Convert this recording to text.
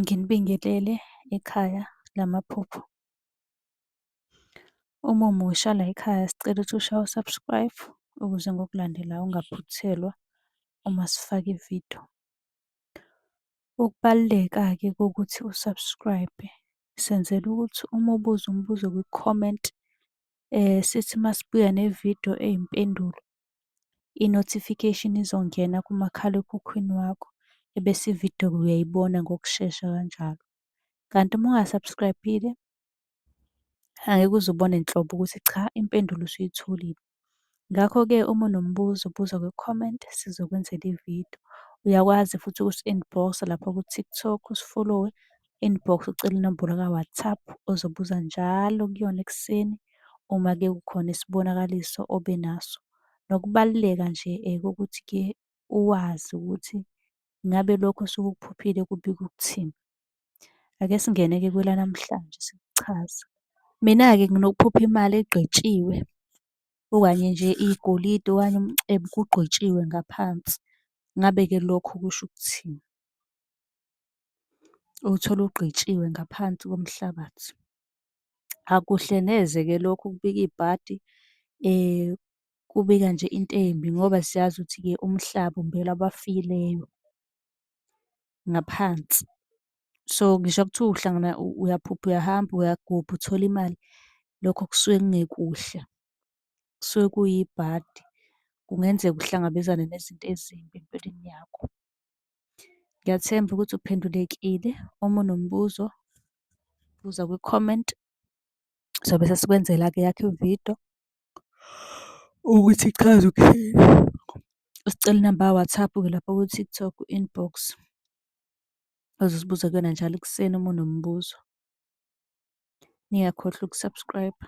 nginibingelele ekhaya lamaphupho. Uma umusha layikhaya sicela ukuthi ushaye u-subscribe ukuze ngokulandelayo ungaphuthelwa uma sifaka ividiyo. Ukubaluleka-ke kokuthi u-subscribe senzela ukuthi uma ubuza umbuzo kwi-comment sithi masibuya nevidiyo eyimpendulo i-notification izongena kumakhalekhukhwini wakho ebese ividiyo uyayibona ngokushesha kanjalo. Kanti uma unga-subscribe-ile angeke uze ubone nhlobo ukuthi cha impendulo usuyitholile. Ngakho-ke uma unombuzo buza kwi-comment sizokwenzela ividiyo. Uyakwazi futhi ukusi-inbox-a lapha ku-TikTok usifolowe inbox ucele inombolo ka-WhatsApp ozobuza njalo kuyona ekuseni uma ke kukhona isibonakaliso obe naso. Nokubaluleka nje kokuthi-ke uwazi ukuthi ngabe lokho osuke ukuphuphile kubika ukuthini. Ake singene-ke kwelanamhlanje sikuchaze. Mina-ke nginokuphupha imali egqetshiwe okanye nje igolide okanye umcebo kugqwetshiwe ngaphansi. Ngabe-ke lokho kusho ukuthini? uwuthole ugqitshiwe ngaphansi komhlabathi. Akuhle neze-ke lokho ukubika ibhadi kubika nje into embi ngoba siyazi ukuthi-ke umhlaba umbelwa abafileyo ngaphansi. So, ngisho kuthiwa uhlangana uyaphupha uyahamba uyagubha uthole imali, lokho kusuke kungekuhle, kusuke kuyibhadi. Kungenzeka uhlangabezane nezinto ezimbi empilweni yakho. Ngiyathemba ukuthi uphendulekile. Uma unombuzo, buza kwi-comment, sobe sesikwenzela-ke eyakho ividiyo ukuthi ichaza ukuthini. Usicela inamba ka-WhatsApp-ke lapha ku-TikTok, inbox, ozosibuza kuyona njalo ekuseni uma unombuzo. Ningakhohlwa uku-subscribe-a.